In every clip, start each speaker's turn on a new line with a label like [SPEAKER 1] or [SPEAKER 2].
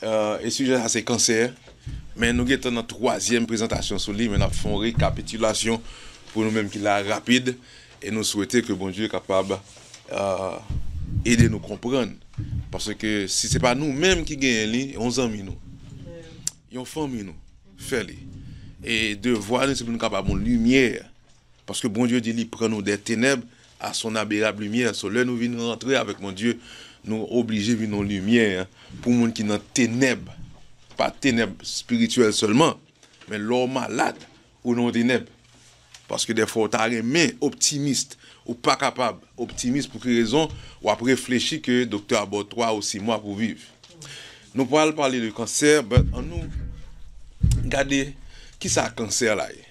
[SPEAKER 1] E sijè sa se kansè, men nou gentan nan twazyèm prezantasyon sou li men nap fè yon rekapitilasyon pou nou menm ki la rapid e nou swete ke Bondye kapab ede nou konprann paske si se pa nou menm ki genyen li yon zanmi nou yon fanmi nou fè li e devwa nou se pou nou ka ba moun limyè paske Bondye di li pran nou dè tenèb a son aberab limyè so lè nou vin rantre avèk Bondye nou oblije vin yon limyè pou moun ki nan tenèb pa tenèb spirityèl sèlman men lè w malad ou nan yon tenèb paske dèfwa w ta renmen optimist ou pa kapab optimist pou ki rezon w ap reflechi ke doktè a ba w 3 ou 6 mwa pou viv nou pral pale de kansè but an nou gade kisa kansè la ye.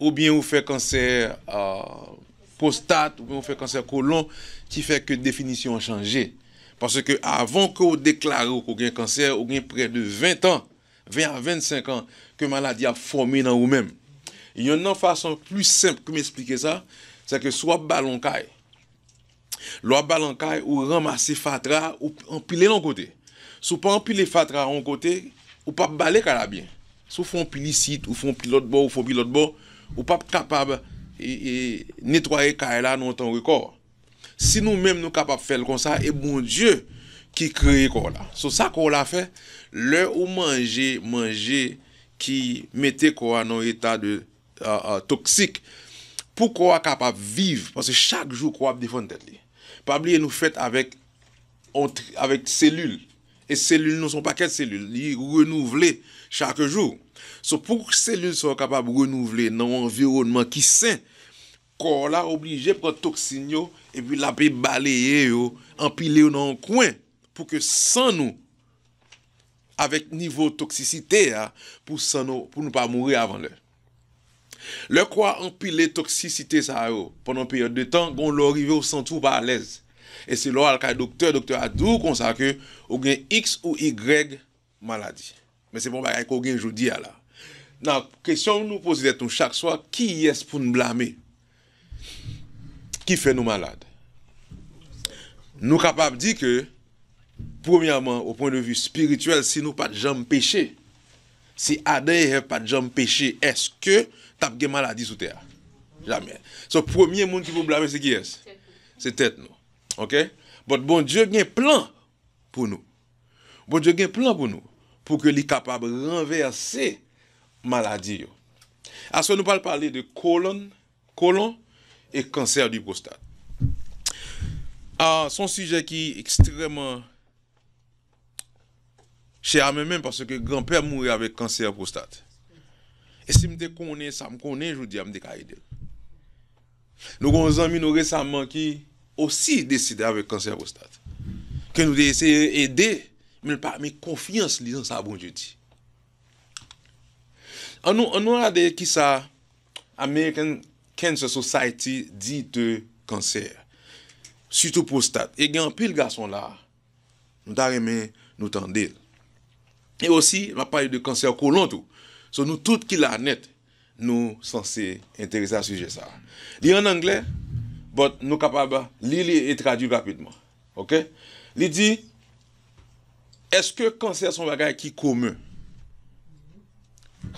[SPEAKER 1] oubyen ou fè kansè pwostat, oubyen ou fè kansè kolon ki fè ke definisyon an chanje. Paske avan ke ou deklare ou ke ou gen kansè, ou gen prè de 20 tan, 20 a 25 an, ke maladi a ap fòme nan ou menm. Yonn nan fason plis senp ke m esplike sa, se ke si w ap bale yon kay, Lè w ap bale yon kay, ou ranmase fatra a, ou anpile l yon kote. Si w pa anpile fatra a yon kote, ou p ap bale kay la byen. Si w fè yon pil isit, ou fè yon pil lòt bò, ou fè yon pil lòt bò, ou p ap kapab netwaye kay la nan yon tan rekò. Si nou menm nou kapab fè l konsa, e Bondye ki kreye kò w la. So, sa kò w la fè, lè ou manje manje ki mete kò a nan yon eta de toksik pou kò a kapab viv paske chak jou kò a ap defann tèt li pa bliye nou fèt avèk yon avèk selil e selil nou se yon pakèt selil li renouvle chak jou so pou selil sa yo kapab renouvle nan yon anviwònman ki sen kò la oblije pran toksin yo epi l ape baleye yo anpile yo nan yon kwen pou ke san nou. avèk nivo toksisite a pou san nou pou nou pa mouri avan lè. Lè kò a anpile toksisite sa yo pandan yon peryòd de tan, gen yon lè ou rive ou santi ou pa alèz. E se lè w al kay doktè, doktè a di w konsa ke ou gen iks ou igrèg maladi. Men se pa yon bagay ke w gen jodi a la. Nan kesyon nou poze tèt nou chak swa, kiyès pou n blame? ki fè nou malad. Nou kapab di ke premyèman o pwen de vi spirityèl si nou pat janm peche, si Adan e Èv pat janm peche eske tap gen maladi sou tè a? Jamè. So premye moun ki pou blame se kiyès? Se tèt nou. Ok? But Bondye gen plan pou nou. Bondye gen plan pou nou pou ke li kapab ranvèse maladi yo. Aswè nou pral pale de kolon, colon, e kansè di pwostat. Son sijè ki ekstrèman chè a mwen menm paske gran pèm mouri avèk kansè pwostat. E sim te konnen sam konnen jodia m te ka edel. Nou gen yon zanmi nou resaman ki osi deside avèk kansè pwostat, ke nou te eseye ede men l pa met konfyans li nan sa Bondye di. An nou an nou gade kisa American Cancer Society di de kansè, sitou pwostat e gen anpil gason la a. Nou ta renmen nou tande l. E osi l ap pale de kansè kolon tou. So nou tout ki la nèt nou sanse enterese a sijè sa a. Li an angle but nou kapab li li e tradui rapidman. Ok. Li di, Eske kansè se yon bagay ki komen?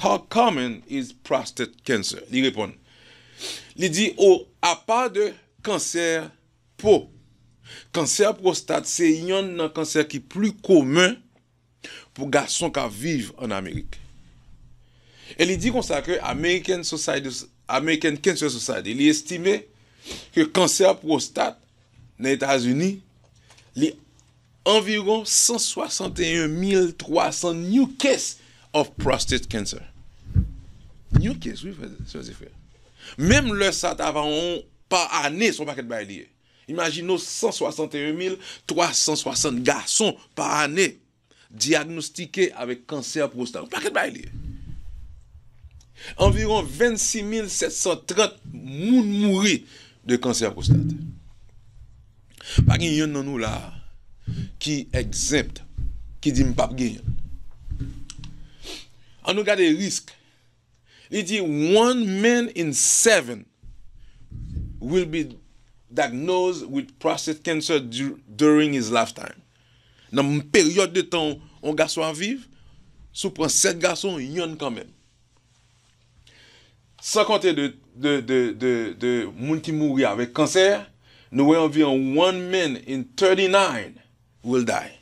[SPEAKER 1] How common is prostate cancer? Li reponn, li di, O apa de kansè Po. Kansè pwostat se yonn nan kansè ki pli komen pou gason k ap viv an Amerik. E li di konsa ke American Society of, American Cancer Society, li estime ke kansè pwostat nan Etazini li Anviwon 161300 new case of prostate cancer. New case wi frè sè e frè. Menm lè sa ta va yon pa ane son pakèt bagay li ye. Imajine w 161360 gason pa ane dyagnostike avèk kansè pwostat. Yon pakèt bagay li ye. Anviwon 26730 moun mouri de kansè pwostat. Pa gen yonn nan nou la a ki exempt, ki di m pap genyen l. An nou gade risk, li di one man in seven will be diagnosed with prostate cancer during his lifetime. Nan peryòd de tan yon gason ap viv, si w pran 7 gason, yonn kanmenm. San konte de moun ki mouri avèk kansè, nou wè anviwon one man in 39 will die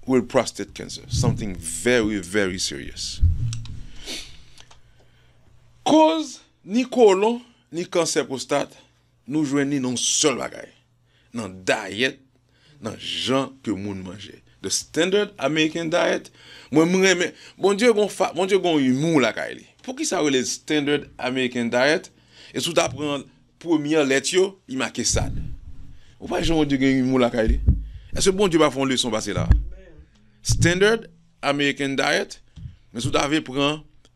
[SPEAKER 1] with prostate cancer, something very very serious. Koz ni kolon ni kansè pwostat nou jwenn li nan yon sèl bagay. nan dayèt, nan jan ke moun manje. The standard American diet, mwen m renmen, Bondye gon fa, Bondye gon humour lakay li. Poukisa yo rele l standard American diet, e si w ta pran premyè lèt yo, li make sad. Ou pa wè jan Bondye gen humour lakay li? Eske Bondye pa fè yon leson pase la? Standard American diet, men si w ta vle pran.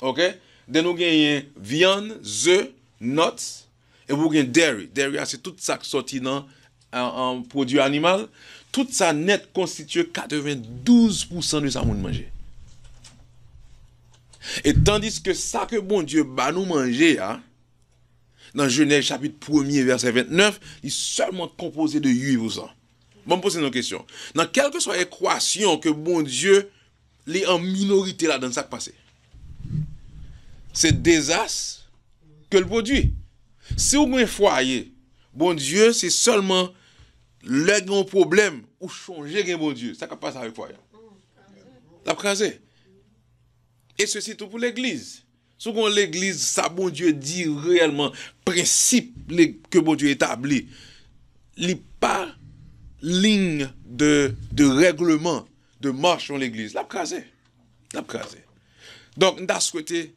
[SPEAKER 1] Ok then ou genyen vyann, ze, nuts epi ou gen dairy, dairy a se tout sak sòti nan pwodwi animal, tout sa nèt konstitye 92 pousan de sa moun manje. E tandiske sa ke Bondye ba nou manje a nan Jenèz chapit premye vèsè 29 li sèlman konpoze de 8 pousan. Banm poze nou kesyon, nan kèlkeswa ekwasyon ke Bondye Li an minorite ladan sak pase. Se dezas ke l pwodwi. Si w gen fwaye, Bondye se sèlman lè gen yon pwoblèm ou chonje gen Bondye. Sa kap pase avèk fwaye an? Lap kraze. E sesi tou pou legliz. Si w gen yon legliz sa Bondye di reyèlman prensip ke Bondye etabli li pa ligne de règlement de marche yon legliz lap kraze lap kraze donk m ta swete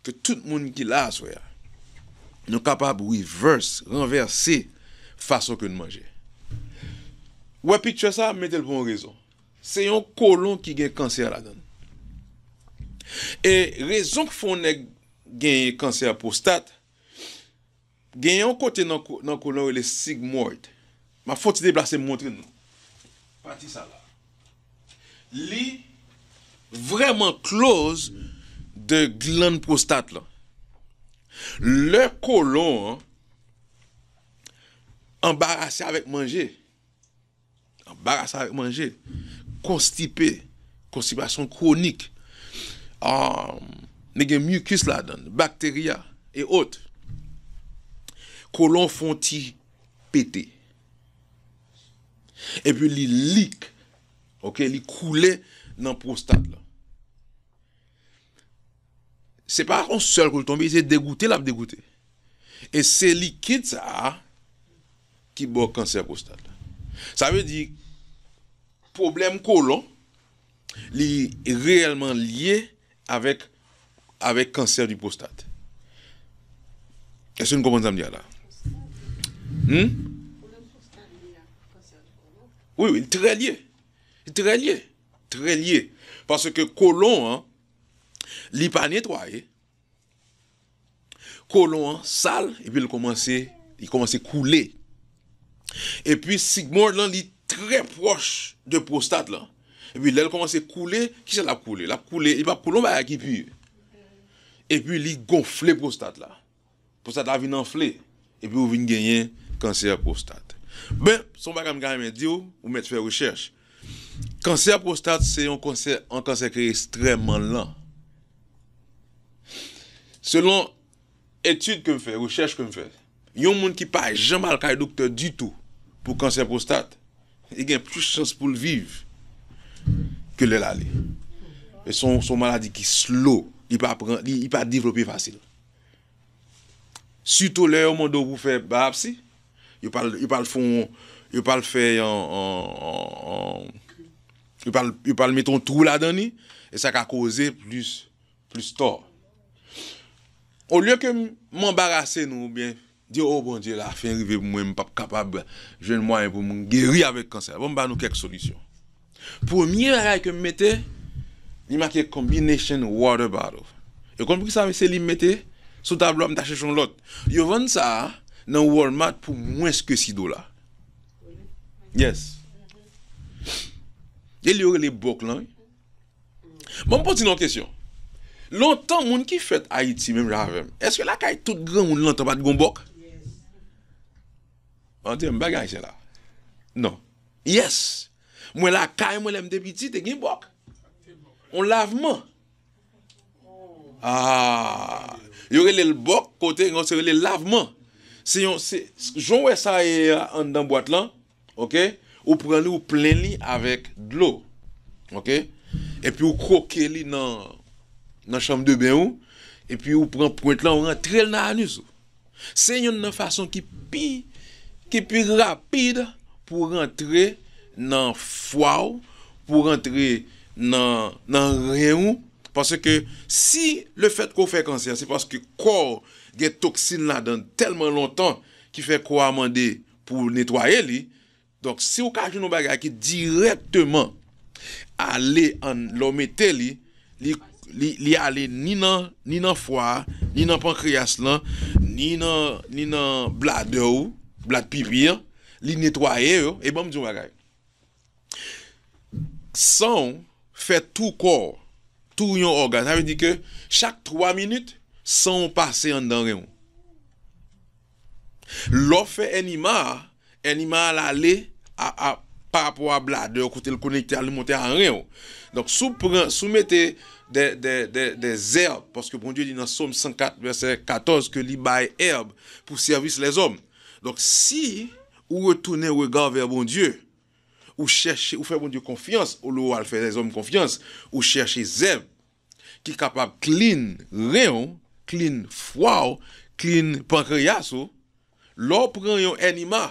[SPEAKER 1] ke tout moun ki la aswè a nou kapab reverse ranvèse fason ke nou manje wè picture sa m mete l pou yon rezon Se yon kolon ki gen kansè ladan l. E rezon k fè yon nèg genyen kansè pwostat, gen yon kote nan kolon yo rele sigmoid. M ap fè yon ti deplase m montre nou. Pati sa la. Li vrèman kloz de glann pwostat lan. Lè kolon an anbarase avèk manje. Anbarase avèk manje. Konstipe, konstipasyon kwonik. Li gen mucus ladan, bacteria et autres. Kolon fon ti pete. E pi li lik, ok, li koule nan pwostat la. Se pa on sèl kou li tonbe, se degoute lap degoute. E se likid sa a. Ki bò kansè pwostat la. Sa vle di pwoblèm kolon li reyèlman lye avèk avèk kansè di pwostat. Èske nou konprann sa m di a la? Humm? Pwoblèm pwostat lye ak kansè di kolon? Wi wi, li trè lye. Li trè lye. Trè lye. Paske kolon an li pa netwaye. Kolon an sal epi l kòmanse li kòmanse koule. Epi sigmond lan li trè pwòch de pwostat lan. Epi lè l kòmanse koule, kisa l ap koule? L ap koule, li p ap koule yon bagay ki pu. Epi li gonfle pwostat la. Pwostat la vin anfle epi ou vin genyen kansè pwostat. Ben, se yon bagay m ta renmen di w, ou mèt fè rechèch. Kansè pwostat se yon kansè, yon kansè ki estrèman lan. Selon etid ke m fè, rechèch ke m fè, yon moun ki pa janm al kay doktè ditou pou kansè pwostat, li gen plis chans pou l viv ke lè l ale. Se yon maladi ki slow, li pa devlope fasil. Sitou lè yo mande w pou fè bayapsi, yo pa l, yo pa l fè yon, yo pa l fè yon, yo pa l, yo pa l mete yon twou ladan li, e sa ka koze plis, plis tò. Olye ke m anbarase nou oubyen. Di o Bondye la fen rive pou mwen m pap kapab jwenn mwayen pou m geri avèk kansè a bon m ba nou kèk solisyon premye bagay ke m mete li make combination water bottle e konn poukisa se li m mete sou tablo a m ta chèche yon lòt yo vann sa nan Walmart pou mwens ke 6 dola yes e li yo rele bòk lan wi. Ban m poze nou yon kesyon. Lontan moun ki fèt Ayiti menm jan avè m, èske lakay tout granmoun lontan pa t gen yon bòk? An tèm bagay ayisyen la. Non. Yès. Mwen lakay mwen lè m te piti te gen bòk. Yon lavman. Aa. Yo rele l bòk kote yon se rele l lavman. Se yon se jan w wè sa ye a anndan bwat lan. ok ou pran li ou plen li avèk dlo ok epi ou kroke li nan nan chanm de ben ou epi ou pran pwent lan ou rantrel nan anus ou se yonn nan fason ki pi ki pi rapid pou rantre nan fwa ou pou rantre nan nan ren ou paske si le fèt ke ou fè kansè se paske kò ou gen toksin ladann tèlman lontan ki fè kò a mande Pou w netwaye li, donk si w ka jwenn yon bagay ki dirèkteman ale an, lè w mete li, li ale ni nan ni nan fwa a, ni nan pankreyas lan, ni nan ni nan bladè ou, blad pipi an, li netwaye yo, e ban m di w yon bagay. San w fè tou kò w, tou yon ògan. Sa vle di ke chak 3 minit san w pase anndan ren w. Lè w fè ènima a, ènima a ale parapò a bladè w kote l konekte a li monte a ren w. Donk si w pran, si w mete de zèb, paske Bondye di nan Som 104 vèsè 14 ke li bay èb pou sèvis lèzòm. Donk si Ou retounen rega vè Bondye. Ou chèche, ou fè Bondye konfyans olye ou al fè lèzòm konfyans. Ou chèche zèv ki kapab klin ren ou, klin fwa ou, klin pankreyas ou. Lè w pran yon ènima,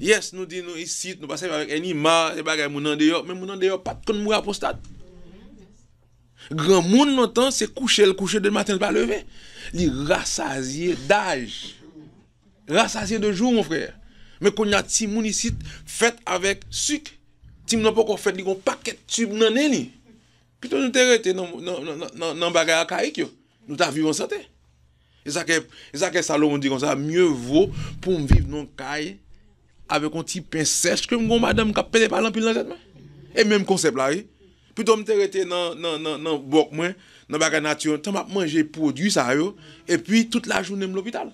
[SPEAKER 1] yes nou di nou isit nou pa sèvi avèk ènima, se bagay moun andeyò, men moun andeyò pat konn mouri a pwostat. Granmoun lontan se kouche l kouche demen maten l pa leve. Li rasazye daj. Rasazye de jou mon frère. Men konnya timoun isit fèt avèk suk timoun nan poko fèt li gon pakèt tube nan nen li pito nou te rete nan bagay akayik yo nou ta viv ansante esake Salomon di konsa mye vo poum viv nan yon kay avèk yon ti pen sèch kem gon madanm kap pete pal anpil nan tèt mwen e menm konsèp la wi pito mte rete nan bòk mwen nan bagay nati tan map manje pwodwi sa yo epi tout lajounen m lopital.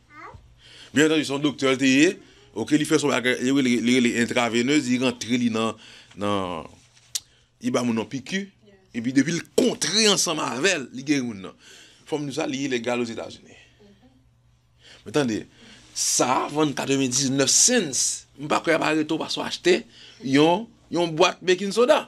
[SPEAKER 1] Byen antandi se yon doktè l te ye, ok, li fè son bagay yo rele li rele entraveneuse, li rantre li nan nan li ba moun nan piki epi depi l kontre ansanm avè l li geri moun nan. Fòm di w sa li ilegal ozetazini. Men tande, sa a vann 99 cents, m pa kwè y ap arete w paske w achte yon yon bwat baking soda.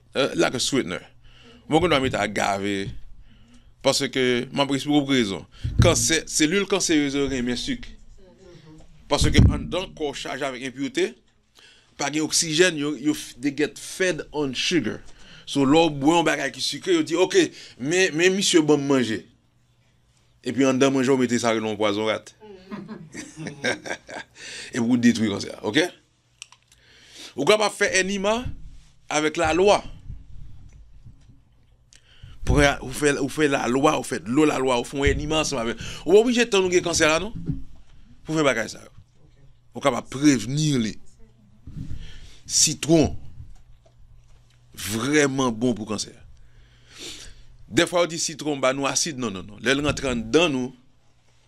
[SPEAKER 1] Like a sweetener Mwen gen dwa mete agave paske m ap eksplike w pou ki rezon. Kansè, Selil kanserez yo renmen sik paske anndan kò w chaje avèk enpurite, pa gen oksijèn, yo, yo they get fed on sugar. So lè w bwè yon bagay ki sikre yo di ok men, men misye ban m manje epi anndan manje w mete sa yo rele yon pwazon rat epi w detwi kansè a ok. Ou kapab fè enima avèk la lwa. Ou fè ou fè la lwa ou fè dlo la lwa ou fon enima ansanm avèl. Ou pa oblije tann ou gen kansè la non pou fè bagay sa yo. Ou kapab prevenir li. Sitwon vrèman bon pou kansè. Dèfwa yo di sitwon ba nou asid non non non lèl rantre anndan nou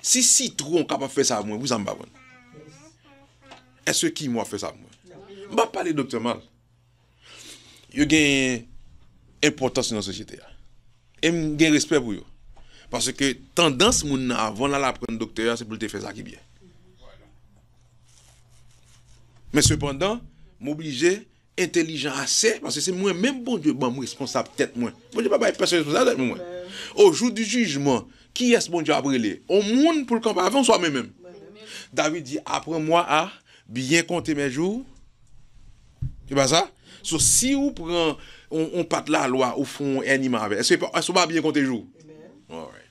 [SPEAKER 1] Si sitron kapab fè sa ak mwen pou sa m pa pran l? Eske kimon ap fè sa ak mwen? M pa pale doktè mal. Yo gen enpòtans nan sosyete a. E m gen respè pou yo. Paske tandans moun nan avan l al aprann doktè a se pou l te fè sa ki byen. Men sepandan, m oblije entelijan ase, paske se mwen menm Bondye ban m responsab tèt mwen. Bondye pa bay pèsonn responsab tèt mwen. O jou di jijman, kiyès Bondye ap rele? On moun pou l kanpe avè m oswa mwen menm? David di, Aprann mwa a byen konte men jou. Se pa sa? So, si ou pran on pat lalwa ou fè on èniman avè l, èske ou pa byen konte jou? Alright.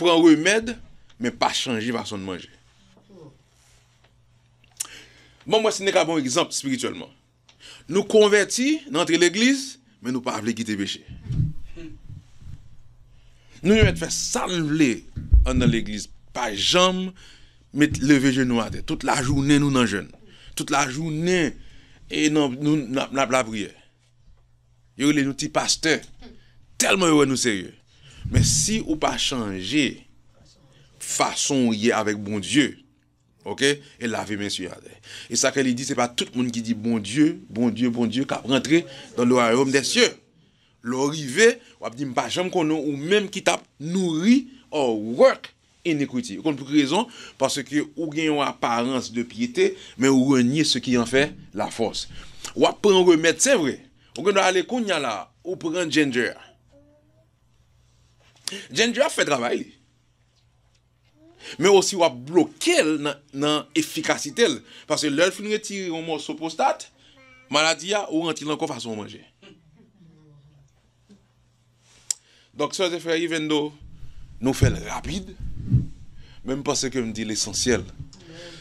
[SPEAKER 1] Pran remèd men pa chanje fason n manje. Ban m wè si n te ka ba yon egzanp espirityèlman. Nou konvèti, n antre legliz, men nou pa vle kite peche. Nou mèt fè sa n vle anndan legliz, pa janm met leve jenou atè. Tout lajounen nou nan jèn. Tout lajounen nou nan lapriyè. Yo rele nou ti pastè tèlman yo wè nou serye. Men si ou pa chanje fason ou ye avèk Bondye ok e lave men sou yatè. E sa ke li di se pa tout moun ki di Bondye, Bondye, Bondye kap rantre dan le wayom dè sye. Lè w rive wap di m pa janm konnen w ou menm ki tap nouri or work Iniquity. Ou konn pou ki rezon? Paske ou gen yon aparans de pyete, men ou renye se ki an fè la fòs. W ap pran remèd, se vre. Ou gen dwa ale kounya la a, ou pran Ginger a. Ginger ap fè travay li. Men osi w ap bloke l nan efikasite l. Paske lè l fin retire yon mòso pwostat, maladi a, ou rantre l ankò fason ou manje. Donk sè e frè even do nou fèl rapid men m panse ke m di lesansyèl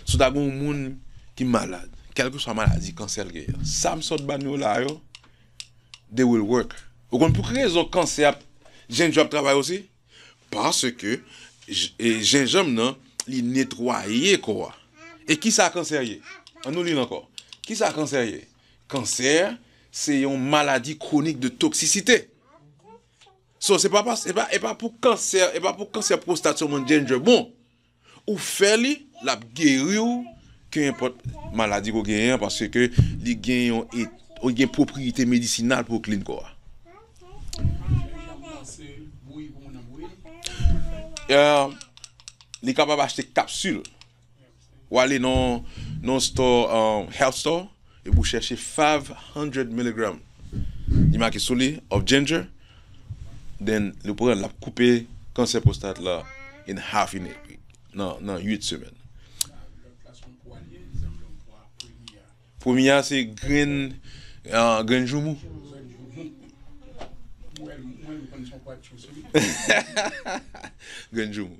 [SPEAKER 1] si w ta gen yon moun ki malad kèlkeswa maladi kansè l genyen sa m sot ba nou la yo they will work ou konn pou ki rezon kansè ap jèn jan ap travay osi Paske jenjanm nan li netwaye kò a. E kisa kansè ye? An nou li l ankò. Kisa kansè ye? Kansè se yon maladi kwonik de toksisite. So se pa pas, e pa pou kansè, e pa pou kansè pwostat sèlman jenjanm bon. Ou fè li, lap geri w ke enpòt maladi ke w genyen an paske ke li gen yon et li gen pwopriyite medisinal pou klin kò a. Li kapab achte kapsil. Ou ale nan nan stò, health store. Epi w chèche 5 hundred milligram li make sou li of ginger then li pran l lap koupe kansè pwostat la in half in nan 8 semèn. Premye a se grenn grenn joumou. Grenn joumou.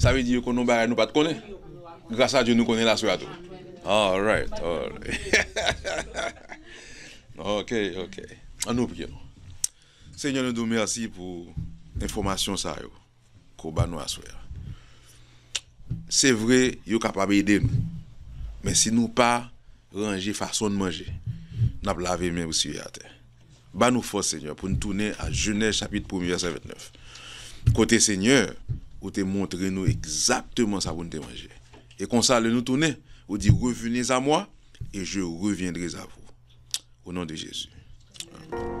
[SPEAKER 2] Sa vle di yo konnen yon bagay
[SPEAKER 1] nou pat konnen gras a Dye nou konnen laswè a tou alright ok ok an nou priye non Senyè nou di w mèsi pou enfòmasyon sa yo ke w ba nou aswè a se vre yo kapab ede nou men si nou pa ranje fason n manje nap lave men pou siye atè. Ba nou fòs Senyè pou n tounen a Jenèz chapit premye vèsè 29 kote Senyè ou te montre nou egzakteman sa pou n te manje e konsa lè nou tounen ou di revenez a moi et je reviendrez a vous o non de Jezi amen.